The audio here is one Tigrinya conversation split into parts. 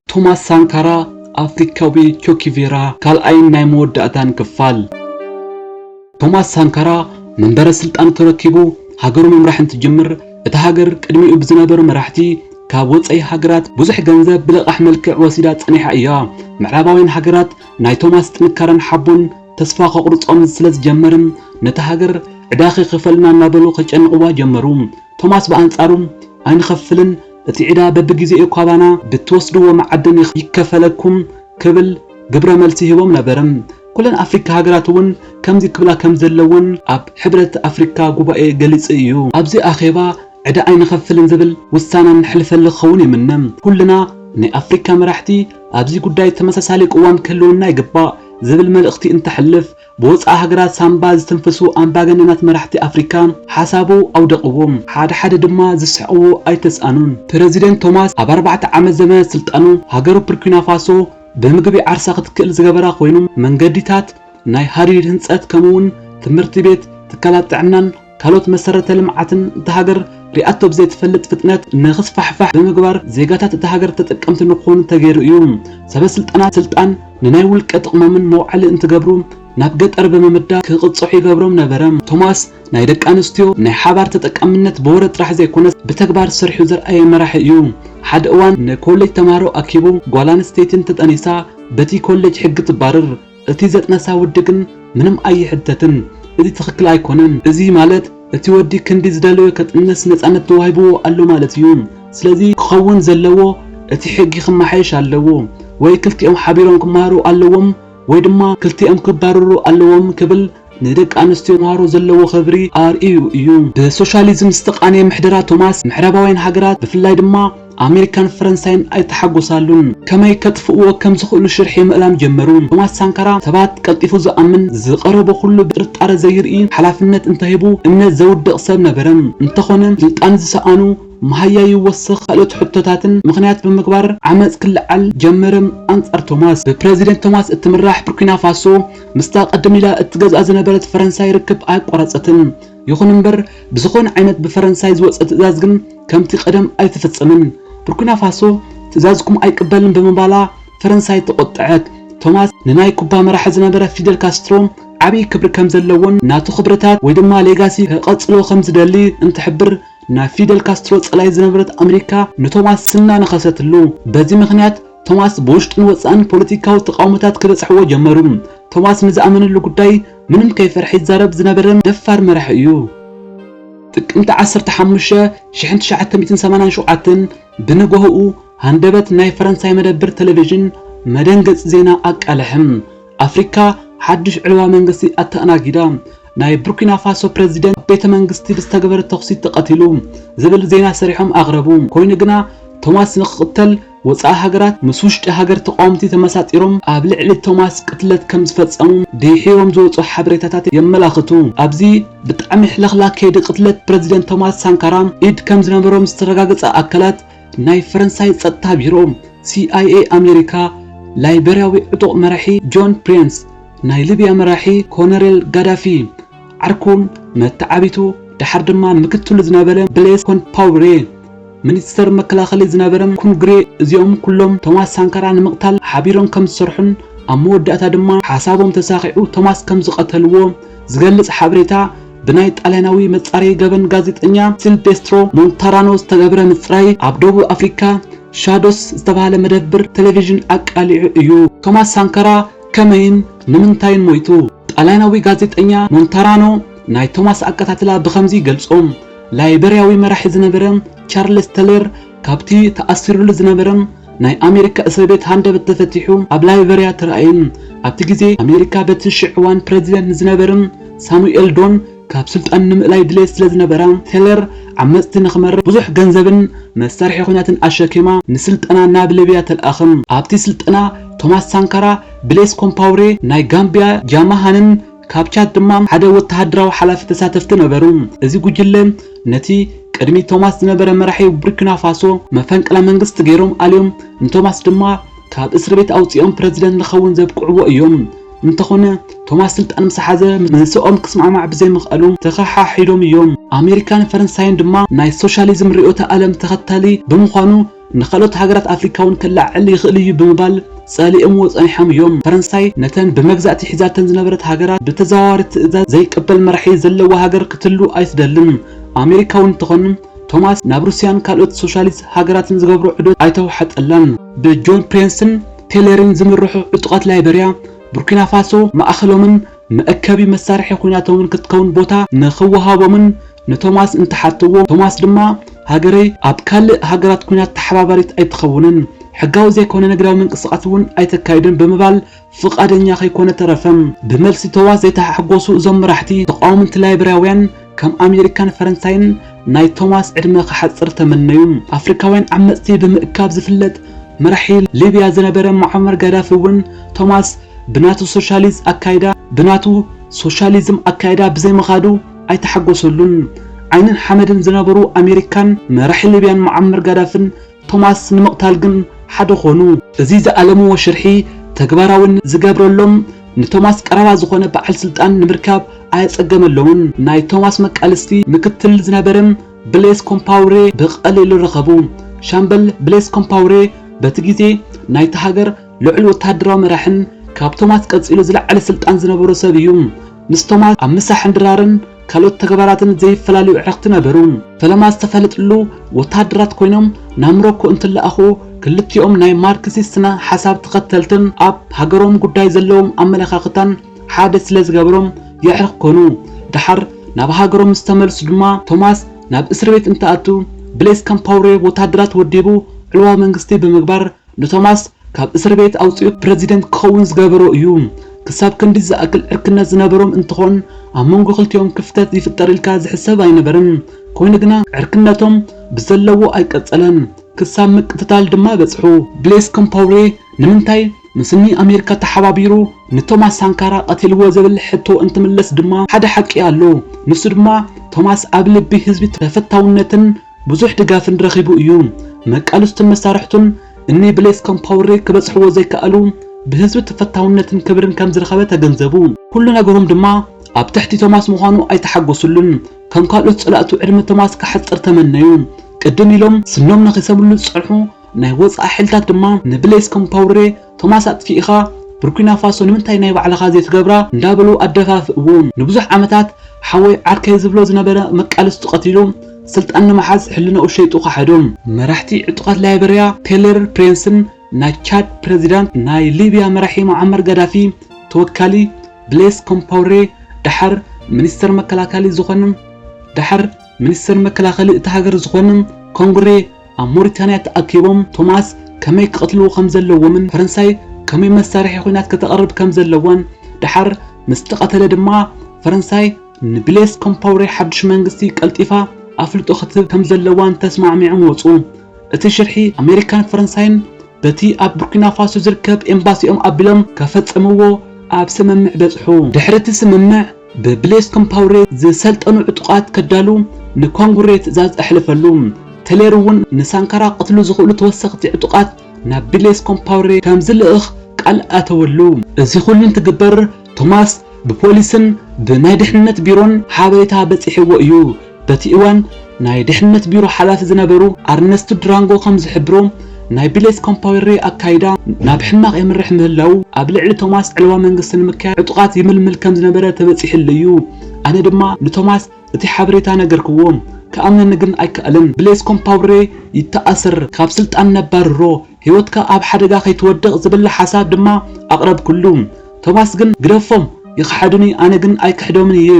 ቶማስ ሳንካራ ኣፍሪካዊ ቾኪቬራ ካልኣይን ናይ መወዳእታን ክፋል ቶማስ ሳንካራ መንበረ ስልጣን ተረኪቡ ሃገሩ ምምራሕ እንትጅምር እታ ሃገር ቅድሚኡ ብዝነበሩ መራሕቲ ካብ ወፃኢ ሃገራት ብዙሕ ገንዘብ ብለቓሕ መልክዕ ወሲዳ ፀኒሓ እያ። ምዕራባውያን ሃገራት ናይ ቶማስ ጥንካረን ሓቦን ተስፋ ከቑርጾም ስለ ዝጀመረ፣ ነታ ሃገር ዕዳ ኺኽፈልና እናበሉ ኼጨንቕዋ ጀመሩ። ቶማስ ብኣንጻሩ፣ ኣይንኸፍልን፣ እቲ ዕዳ በብግዜኡ ኻባና ብእትወስድዎ መዓድን ይከፈለኩም ክብል ግብረ መልሲ ሂቦም ነበረ። ኵለን ኣፍሪቃ ሃገራት እውን ከምዚ ክብላ ከም ዘለወን ኣብ ሕብረት ኣፍሪቃ ጉባኤ ገሊጹ ኢዩ። ኣብዚ ኣኼባ ዕዳ ኣይንኸፍልን ዝብል ውሳነ ነሕልፈሉ ክኸውን ይምነ። ኵልና ናይ ኣፍሪቃ መራሕቲ፣ ኣብዚ ጉዳይ ተመሳሳሊ ቅዋም ክህልወና ይግባእ ዝብል መልእኽቲ እንተሕልፍ፣ ብወጻኢ ሃገራት ሳንባ ዝትንፍሱ ኣምባገነናት መራሕቲ ኣፍሪካ ሓሳቡ ኣውደቕዎ። ሓደ ሓደ ድማ ዝስሕቕዎ ኣይተስኣኑን። ፕረዚደንት ቶማስ ኣብ ኣርባዕተ ዓመት ዘበነ ስልጣኑ ሃገሩ ፕርኩናፋሶ ብምግቢ ዓርሳ ክትክእል ዝገበራ ኮይኑ፣ መንገዲታት፣ ናይ ሃዲድ ህንጸት ከምኡ'ውን ትምህርቲ ቤት፣ ትካላት ጥዕናን፣ ካልኦት መሰረተ ልምዓትን እታ ሃገር ሪኣቶ ብዘይትፈልጥ ፍጥነት ንኽስፋሕፋሕ ብምግባር ዜጋታት እታ ሃገር ተጠቀምቲ ንክኾኑ ተገይሩ እዩ። ሰበ ስልጣናት ስልጣን ንናይ ውልቀ ጥቕሞምን መውዓሊ እንትገብሩ ናብ ገጠር ብምምዳብ ክቕፅዑ ይገብሮም ነበረ። ቶማስ ናይ ደቂ ኣንስትዮ ናይ ሓባር ተጠቃምነት ብወረ ጥራሕ ዘይኮነስ ብተግባር ሰሪሑ ዘርኣየ መራሒ እዩ። ሓደ እዋን ንኮሌጅ ተምሃሮ ኣኪቡ ጓል ኣንስተይቲ እንተጠኒሳ በቲ ኮሌጅ ሕጊ ትባረር፣ እቲ ዘጥነሳ ውዲ ግን ምንም ኣይሕተትን እዚ ትክክል ኣይኮነን እዚ ማለት እቲ ወዲ ክንዲ ዝደለዮ ከጥንስ ነፃነት ተዋሂብዎ ኣሎ ማለት እዩ ስለዚ ክከውን ዘለዎ እቲ ሕጊ ክማሓየሽ ኣለዎ ወይ ክልቲኦም ሓቢሮም ክማሃሩ ኣለዎም ወይ ድማ ክልቲኦም ክባረሩ ኣለዎም ክብል ንደቂ ኣንስትዮ መሃሮ ዘለዎ ኽብሪ ኣርእዩ እዩ። ብሶሻሊዝም ዝተቓነየ ምሕደራ ቶማስ ምዕራባውያን ሃገራት ብፍላይ ድማ ኣሜሪካን ፈረንሳይን ኣይተሓጎሳሉን። ከመይ ከጥፍእዎ ከም ዝኽእሉ ሽርሒ ምእላም ጀመሩ። ቶማስ ሳንካራ ሰባት ቀልጢፉ ዝኣምን፣ ዝቐረቦ ኹሉ ብጥርጣረ ዘይርኢ፣ ሓላፍነት እንተሂቡ እምነት ዘውድቕ ሰብ ነበረ። እንተኾነ ስልጣን ዝሰኣኑ መሃያ ይወስኽ ካልኦት ሕቶታትን ምኽንያት ብምግባር ዓመጽ ክለዓል ጀመረ ኣንጻር ቶማስ። ብፕረዚደንት ቶማስ እትምራሕ ቡርኪና ፋሶ፣ ምስታ ቅድም ኢላ እትገዝኣ ዝነበረት ፈረንሳይ ርክብ ኣየቋረጸትን። ይኹን እምበር ብዝኾነ ዓይነት ብፈረንሳይ ዝወጸ ትእዛዝ ግን ከምቲ ቀደም ኣይትፍጽምን። ቡርኪና ፋሶ ትእዛዝኩም ኣይቅበልን ብምባላ ፈረንሳይ ተቖጠዐት። ቶማስ ንናይ ኩባ መራሒ ዝነበረ ፊደል ካስትሮ ዓብይ ክብሪ ከም ዘለዎን ናቱ ክብርታት ወይ ድማ ሌጋሲ ከቐጽሎ ከም ዝደሊ እንትሕብር ናይ ፊደል ካስትሮ ጸላኢት ዝነበረት ኣመሪካ ንቶማስ ስና ነኸሰትሉ። በዚ ምኽንያት ቶማስ ብውሽጥን ወጻእን ፖለቲካዊ ተቓውሞታት ክበጽሕዎ ጀመሩ። ቶማስ ንዝኣመነሉ ጉዳይ ምንም ከይፈርሐ ይዛረብ ዝነበረን ደፋር መራሒ እዩ። ጥቅምቲ ዓሰርተ ሓሙሽተ ሽሕን ትሽዓተ ሚእትን ሰማንያን ሸውዓተን ብንጎሆኡ ሃንደበት ናይ ፈረንሳይ መደብር ተለቪዥን መደንገጺ ዜና ኣቃልሐ። ኣፍሪካ ሓድሽ ዕልዋ መንግስቲ ኣተኣናጊዳ፣ ናይ ቡርኪና ፋሶ ፕረዚደንት ኣብ ቤተ መንግስቲ ብዝተገበረ ተኹሲ ተቐቲሉ ዝብል ዜና ሰሪሖም ኣቕረቡ። ኮይኑ ግና ቶማስ ንክቕተል ወጻኢ ሃገራት ምስ ውሽጢ ሃገር ተቓወምቲ ተመሳጢሮም ኣብ ልዕሊ ቶማስ ቅትለት ከም ዝፈጸሙ ድሒሮም ዝወጹ ሓበሬታታት የመላኽቱ። ኣብዚ ብጣዕሚ ሕልኽላኽ ከይዲ ቅትለት ፕረዚደንት ቶማስ ሳንካራ ኢድ ከም ዝነበሮም ዝተረጋገጸ ኣካላት ናይ ፈረንሳይ ጸጥታ ቢሮ፣ ሲኣይኤ ኣሜሪካ፣ ላይበርያዊ ዕጡቕ መራሒ ጆን ፕሬንስ፣ ናይ ሊብያ መራሒ ኮነሬል ጋዳፊ፣ ዓርኩን መተዓቢቱ ደሓር ድማ ምክትሉ ዝነበረ ብሌስ ኮንፓውሬ ሚኒስተር መከላኸሊ ዝነበረ ኩንግሬ እዚኦም ኩሎም ቶማስ ሳንካራ ንምቕታል ሓቢሮም ከም ዝሰርሑን ኣብ መወዳእታ ድማ ሓሳቦም ተሳኺዑ ቶማስ ከም ዝቐተልዎ ዝገልጽ ሓበሬታ ብናይ ጣልያናዊ መጻረዪ ገበን ጋዜጠኛ ሲልቤስትሮ ሞንታራኖ ዝተገብረ ምጽራይ ኣብ ደቡብ ኣፍሪካ ሻዶስ ዝተባህለ መደብር ቴሌቪዥን ኣቃሊዑ እዩ። ቶማስ ሳንካራ ከመይን ንምንታይን ሞይቱ? ጣልያናዊ ጋዜጠኛ ሞንታራኖ ናይ ቶማስ ኣቀታትላ ብኸምዚ ይገልጾ፣ ላይበርያዊ መራሒ ዝነበረ ቻርለስ ተሌር ካብቲ ተኣሲሩሉ ዝነበረ ናይ ኣሜሪካ እስርቤት ሃንደበት ተፈቲሑ ኣብ ላይበርያ ተራእየ፣ ኣብቲ ግዜ ኣሜሪካ በቲ ሽዕ እዋን ፕረዚደንት ንዝነበረ ሳሙኤል ዶን ካብ ስልጣን ንምእላይ ድሌት ስለ ዝነበራ፣ ቴለር ዓመጽቲ ንኽመርሕ ብዙሕ ገንዘብን መሳርሒ ኲናትን ኣሸኪማ ንስልጠና ናብ ሊብያ ተልኣኸ። ኣብቲ ስልጠና ቶማስ ሳንካራ፣ ብሌስ ኮምፓውሬ፣ ናይ ጋምብያ ጃማሃንን ካብ ቻድ ድማ ሓደ ወተሃደራዊ ሓላፊ ተሳተፍቲ ነበሩ። እዚ ጉጅለ ነቲ ቅድሚ ቶማስ ዝነበረ መራሒ ቡርኪናፋሶ መፈንቅለ መንግስቲ ገይሮም ኣልዮም ንቶማስ ድማ ካብ እስርቤት ኣውጺኦም ፕረዚደንት ንኸውን ዘብቅዕዎ እዮም። እንተኾነ ቶማስ ስልጣን ምስ ሓዘ ምስኦም ክስማዕማዕ ብዘይምኽኣሉ ተኸሓሒዶም እዮም። ኣሜሪካን ፈረንሳይን ድማ ናይ ሶሻሊዝም ርእዮተ ኣለም ተኸታሊ ብምዃኑ ንኻልኦት ሃገራት ኣፍሪካ'ውን ከለዓዕል ይኽእል እዩ ብምባል ጸሊኦምዎ ጸኒሖም እዮም። ፈረንሳይ ነተን ብመግዛእቲ ሒዛተን ዝነበረት ሃገራት ብተዘዋዋሪ ትእዛዝ ዘይቅበል መራሒ ዘለዋ ሃገር ክትህሉ ኣይትደልን። ኣሜሪካ'ውን ትኾን ቶማስ ናብ ሩስያን ካልኦት ሶሻሊስት ሃገራትን ዝገብሮ ዑደት ኣይተዋሕጠላን። ብጆን ፕሬንስን ቴለርን ዝምርሑ ዕጡቓት ላይበርያ፣ ቡርኪናፋሶ ማእኸሎምን መእከቢ መሳርሒ ኹናቶምን ክትከውን ቦታ ንኽወሃቦምን ንቶማስ እንተሓተዎ፣ ቶማስ ድማ ሃገረይ ኣብ ካልእ ሃገራት ኹናት ተሓባባሪት ኣይትኸውንን፣ ሕጋዊ ዘይኮነ ንግዳዊ ምንቅስቓስ እውን ኣይተካይድን ብምባል ፍቓደኛ ከይኮነ ተረፈ። ብመልሲ ተዋ ዘይተሓጎሱ እዞም መራሕቲ ተቓወምቲ ላይበርያውያን ከም ኣሜሪካን ፈረንሳይን ናይ ቶማስ ዕድመ ክሓጽር ተመነዩ። ኣፍሪካውያን ዓመጽቲ ብምእካብ ዝፍለጥ መራሒ ሊብያ ዝነበረ ሙዓመር ጋዳፊ እውን ቶማስ ብናቱ ሶሻሊዝ ኣካይዳ ብናቱ ሶሻሊዝም ኣካይዳ ብዘይምኻዱ ኣይተሓጎሰሉን። ዓይንን ሓመድን ዝነበሩ ኣሜሪካን መራሒ ሊብያን ሙዓመር ጋዳፍን ቶማስ ንምቕታል ግን ሓደ ኮኑ። እዚ ዝኣለምዎ ሽርሒ ተግባራዊ ንዝገብረሎም ንቶማስ ቀረባ ዝኾነ በዓል ስልጣን ንምርካብ ኣየጸገመሎምን። ናይ ቶማስ መቃልስቲ ምክትል ዝነበረ ብሌስ ኮምፓውሬ ብቐሊሉ ረኸቡ። ሻምበል ብሌስ ኮምፓውሬ በቲ ግዜ ናይታ ሃገር ልዑል ወተሃደራዊ መራሕን ካብ ቶማስ ቀጺሉ ዝለዓለ ስልጣን ዝነበሮ ሰብ እዩ። ምስ ቶማስ ኣብ ምሳሕን ድራርን ካልኦት ተግባራትን ዘይፈላለዩ ኣዕርኽቲ ነበሩ። ፈለማ ዝተፈለጥሉ ወተሃደራት ኮይኖም ናብ ምሮኮ እንትለኣኹ ክልቲኦም ናይ ማርክሲስት ስነ ሓሳብ ተኸተልትን ኣብ ሃገሮም ጉዳይ ዘለዎም ኣመለኻኽታን ሓደ ስለ ዝገበሮም የዕርኽ ኮኑ። ደሓር ናብ ሃገሮም ምስ ተመልሱ ድማ ቶማስ ናብ እስርቤት እንትኣቱ ብሌስ ካምፓውሬ ወተሃደራት ወዲቡ ዕልዋ መንግስቲ ብምግባር ንቶማስ ካብ እስርቤት ኣውጺኡ ፕረዚደንት ክኸውን ዝገበሮ እዩ። ክሳብ ክንዲ ዝኣክል ዕርክነት ዝነበሮም እንትኾን ኣብ መንጎ ክልቲኦም ክፍተት ይፍጠር ኢልካ ዝሕሰብ ኣይነበርን። ኮይኑ ግና ዕርክነቶም ብዘለዎ ኣይቀጸለን ክሳብ ምቅትታል ድማ በጽሑ። ብሌስ ኮምፓውሬ ንምንታይ ምስ ን ኣሜሪካ ተሓባቢሩ ንቶማስ ሳንካራ ቀቲልዎ ዝብል ሕቶ እንትምለስ ድማ ሓደ ሓቂ ኣሎ ንሱ ድማ ቶማስ ኣብ ልቢ ህዝቢ ተፈታውነትን ብዙሕ ድጋፍን ረኺቡ እዩ። መቃልስቱን መሳርሕቱን እኒ ብሌስ ኮምፓውሬ ክበጽሕዎ ዘይከኣሉ ብህዝቢ ተፈታውነትን ክብርን ከም ዝረኸበ ተገንዘቡ። ኩሉ ነገሮም ድማ ኣብ ትሕቲ ቶማስ ምዃኑ ኣይተሓጎስሉን። ከም ካልኦት ጸላእቱ ዕድመ ቶማስ ከሕጽር ተመነዩ። ቅድም ኢሎም ስኖም ነኺሰምሉ ዝጸንሑ ናይ ወጻኢ ሓይልታት ድማ ንብሌስ ኮምፓውሬ ቶማስ ኣጥፊእኻ ቡርኪናፋሶ ንምንታይ ናይ ባዕልኻ ዘይትገብራ እንዳበሉ ኣደፋፍእዎ። ንብዙሕ ዓመታት ሓወይ ዓርከይ ዝብሎ ዝነበረ መቃልስቱ ቀቲሉ ስልጣን ንምሓዝ ሕልናኡ ሸይጡ ከሓዶ። መራሕቲ ዕጡቓት ላይበርያ ቴለር ፕሬንስን ናይ ቻድ ፕረዚዳንት፣ ናይ ሊብያ መራሒ ሞዓመር ጋዳፊ ተወካሊ ብሌስ ኮምፓውሬ፣ ደሓር ሚኒስተር መከላከሊ ዝኾነ፣ ደሓር ሚኒስተር መከላኸሊ እታ ሃገር ዝኾኑ ኮንግሬ ኣብ ሞሪታንያ ተኣኪቦም ቶማስ ከመይ ክቐትልዎ ከም ዘለዎምን ፈረንሳይ ከመይ መሳርሒ ኹናት ከተቕርብ ከም ዘለዋን ደሓር ምስ ተቐተለ ድማ ፈረንሳይ ንብሌስ ኮምፓውሬ ሓዱሽ መንግስቲ ቀልጢፋ ኣፍልጦ ክትህብ ከም ዘለዋን ተስማዕሚዖም ወጹ። እቲ ሽርሒ ኣሜሪካን ፈረንሳይን በቲ ኣብ ቡርኪና ፋሶ ዝርከብ ኤምባሲኦም ኣቢሎም ከፈጸምዎ ኣብ ስምምዕ በጽሑ። ድሕሪ እቲ ስምምዕ ብብሌስ ኮምፓውሬ ዝሰልጠኑ ዕጡቓት ከዳሉ ንኮንጉሬ ትእዛዝ ኣሕለፈሉ። ቴሌር እውን ንሳንካራ ክቐትሉ ዝኽእሉ ተወሰኽቲ ዕጡቓት ናብ ብሌስ ኮምፓውሬ ከም ዝልእኽ ቃል ኣተወሉ። እዚ ኹሉ እንትግበር ቶማስ ብፖሊስን ብናይ ድሕንነት ቢሮን ሓበሬታ በጺሕዎ እዩ። በቲ እዋን ናይ ድሕነት ቢሮ ሓላፊ ዝነበሩ ኣርነስቱ ድራንጎ ከም ዝሕብሮ፣ ናይ ብሌዝ ኮምፓዌሬ ኣካይዳ ናብ ሕማቕ የምርሕ ምህላዉ፣ ኣብ ልዕሊ ቶማስ ዕልዋ መንግስቲ ንምክያድ ዕጡቓት ይምልምል ከም ዝነበረ ተበጺሕሉ እዩ። ኣነ ድማ ንቶማስ እቲ ሓበሬታ ነገርክዎ። ክኣምነኒ ግን ኣይከኣለን። ብሌዝ ኮምፓውሬ ይተኣሰር፣ ካብ ስልጣን ነባርሮ፣ ህይወትካ ኣብ ሓደጋ ከይትወድቕ ዝብል ሓሳብ ድማ ኣቕረብኩሉ። ቶማስ ግን ግደፎም ይኽሓዱኒ ኣነ ግን ኣይክሕዶምን እየ፣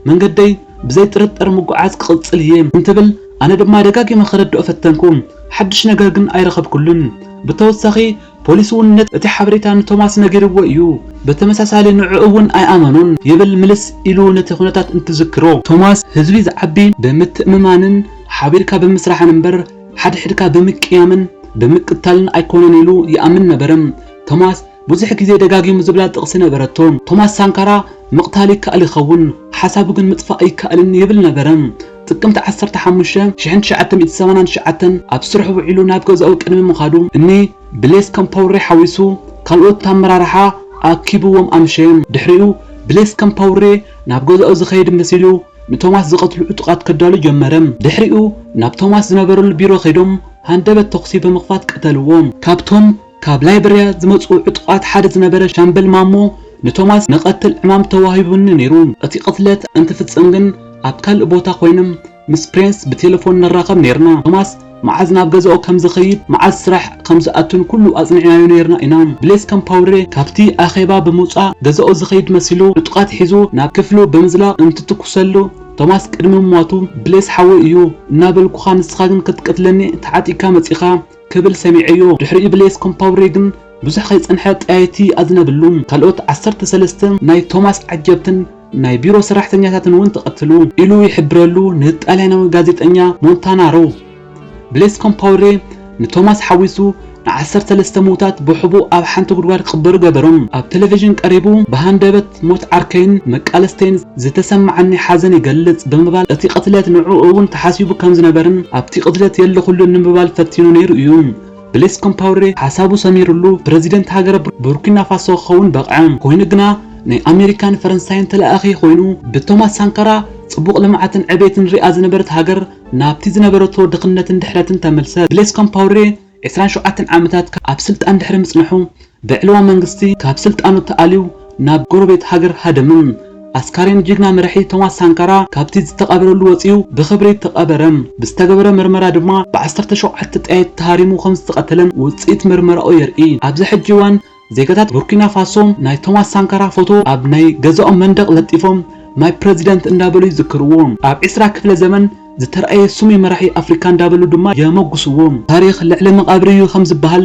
መንገደይ ብዘይ ጥርጥር ምጉዓዝ ክቕጽል እየ እንትብል ኣነ ድማ ደጋጊመ ከረድኦ ፈተንኩ። ሓድሽ ነገር ግን ኣይረኸብኩሉን። ብተወሳኺ ፖሊስ እውን ነቲ እቲ ሓበሬታ ንቶማስ ነጊርዎ እዩ፣ ብተመሳሳሊ ንዕኡ እውን ኣይኣመኖን ይብል ምልስ ኢሉ ነቲ ኩነታት እንትዝክሮ። ቶማስ ህዝቢ ዝዓቢ ብምትእምማንን ሓቢርካ ብምስራሕን እምበር ሓድሕድካ ብምቅያምን ብምቅታልን ኣይኮነን ኢሉ ይኣምን ነበረ። ቶማስ ብዙሕ ግዜ ደጋጊሙ ዝብላ ጥቕሲ ነበረቶ። ቶማስ ሳንካራ ምቕታል ይከኣል ይኸውን፣ ሓሳቡ ግን ምጥፋእ ኣይከኣልን ይብል ነበረ። ጥቅምቲ ዓሰርተ ሓሙሽተ፣ ሽሕን ትሽዓተ ሚእቲ ሰማንያን ትሽዓተን ኣብ ስርሑ ውዒሉ ናብ ገዛኡ ቅድሚ ምኻዱ፣ እኒ ብሌስ ከምፓውሬ ሓዊሱ ካልኦት ኣመራርሓ ኣኪቡዎም ኣምሸየ። ድሕሪኡ ብሌስ ከምፓውሬ ናብ ገዛኡ ዝኸይድ መሲሉ፣ ንቶማስ ዝቐትሉ ዕጡቓት ከዳሉ ጀመረ። ድሕሪኡ ናብ ቶማስ ዝነበረሉ ቢሮ ከይዶም ሃንደበት ተኹሲ ብምኽፋት ቀተልዎ። ካብቶም ካብ ላይበርያ ዝመጽኡ ዕጡቓት ሓደ ዝነበረ ሻምበል ማሞ ንቶማስ ንቐትል ዕማም ተዋሂቡኒ ነይሩ፣ እቲ ቅትለት እንትፍጸም ግን ኣብ ካልእ ቦታ ኮይነ ምስ ፕሬንስ ብቴለፎን ንራኸብ ነይርና፣ ቶማስ መዓዝ ናብ ገዛኡ ከም ዝኸይድ፣ መዓዝ ስራሕ ከም ዝኣቱን ኩሉ ኣጽኒዕናዮ ነይርና ኢና። ብሌስ ካምፓውሬ ካብቲ ኣኼባ ብምውጻእ ገዛኡ ዝኸይድ መሲሉ ዕጡቓት ሒዙ ናብ ክፍሉ ብምዝላቕ እንትትኩሰሉ፣ ቶማስ ቅድሚ ምሟቱ ብሌስ ሓወይ እዩ እናበልኩኻ ንስኻ ግን ክትቅትለኒ ተዓጢቕካ መጺእኻ ክብል ሰሚዐዮ። ድሕሪኡ ብሌስ ኮምፓውሬ ግን ብዙሕ ከይጸንሐ ጠያይቲ ኣዝነብሉ። ካልኦት ዓሰርተ ሰለስተ ናይ ቶማስ ዓጀብትን፣ ናይ ቢሮ ሰራሕተኛታትን እውን ተቐትሉ ኢሉ ይሕብረሉ ንጣልያናዊ ጋዜጠኛ ሞንታናሮ። ብሌስ ኮምፓውሬ ንቶማስ ሓዊሱ ንዓሰርተ ሰለስተ ምዉታት ብሕቡእ ኣብ ሓንቲ ጉድጓድ ክቕበሩ ገበሮም። ኣብ ተለቪዥን ቀሪቡ ብሃንደበት ሞት ዓርከይን መቃለስተይን ዝተሰመዓኒ ሓዘን ይገልጽ ብምባል እቲ ቅትለት ንዕኡ እውን ተሓሲቡ ከም ዝነበረን ኣብቲ ቅትለት የለኹሉን ንምባል ፈቲኑ ነይሩ እዩ ብሌስ ኮምፓውሬ ሓሳቡ ሰሚርሉ ፕረዚደንት ሃገረ ቡርኪናፋሶ ክኸውን በቕዐ። ኮይኑ ግና ናይ ኣሜሪካን ፈረንሳይን ተለኣኣኺ ኮይኑ ብቶማስ ሳንካራ ጽቡቕ ልምዓትን ዕቤትን ሪኣ ዝነበረት ሃገር ናብቲ ዝነበረቶ ድኽነትን ድሕረትን ተመልሰት። ብሌስ ኮምፓውሬ ዕስራን ሸውዓተን ዓመታት ኣብ ስልጣን ድሕሪ ምጽንሑ፣ ብዕልዋ መንግስቲ ካብ ስልጣኑ ተኣልዩ ናብ ጎረቤት ሃገር ሃደምም። ኣስካሬን ጅግና መራሒ ቶማስ ሳንካራ ካብቲ ዝተቐበረሉ ወጺኡ ብኽብሪ ተቐበረ። ብዝተገበረ ምርመራ ድማ ብዓሰርተ ሸውዓተ ጠያይት ተሃሪሙ ከምዝተቐተለን ውጽኢት ምርመራኡ የርኢ። ኣብዚ ሕጂ እዋን ዜጋታት ቡርኪና ፋሶ ናይ ቶማስ ሳንካራ ፎቶ ኣብ ናይ ገዛኦም መንደቕ ለጢፎም ማይ ፕረዚደንት እንዳበሉ ይዝክርዎ። ኣብ ዕስራ ክፍለ ዘመን ዝተርኣየ ስሙይ መራሒ ኣፍሪካ እንዳበሉ ድማ የሞግስዎ። ታሪኽ ልዕሊ መቓብር'ዩ ከምዝበሃል፣